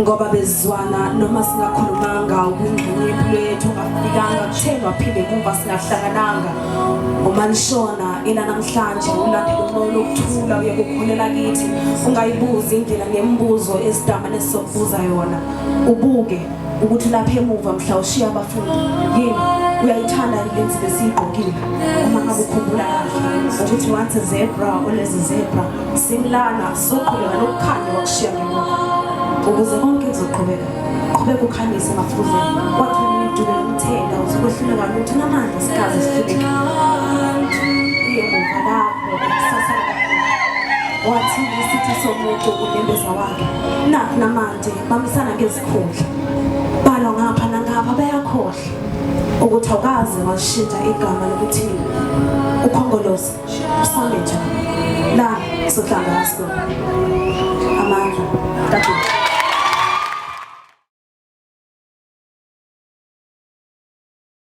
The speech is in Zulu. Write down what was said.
ngoba bezwana noma singakhulumanga ubungcwele lwethu ungafikanga kuthenwa phinde kumva singahlangananga uma nishona ila namhlanje ulandela umoya lokuthula uye kukhulela kithi ungayibuzi indlela nemibuzo esidamane sizokubuza yona ubuke ukuthi lapha emuva mhla ushiya abafundi yini uyayithanda lenzi besiyigqokile uma ngabe ukhumbula kahle ukuthi once zebra olezi zebra simlana soqhubeka nokukhanya wakushiya ngemuva ukuze konke kuzoqhubeka qhubeka ukhanyise emafuzeni wathi umdube umthela uzokwehluleka ukuthi namandla sikaze sihluleke iye muva lapho kusasa wathi isitha somuntu unembeza wakhe nakho namandla bamisana ngezikhundla balwa ngapha nangapha bayakhohlwa ukuthi awukaze washintsha igama lokuthi ukhongolose usame njani la sohlanga asko amandla kaJesu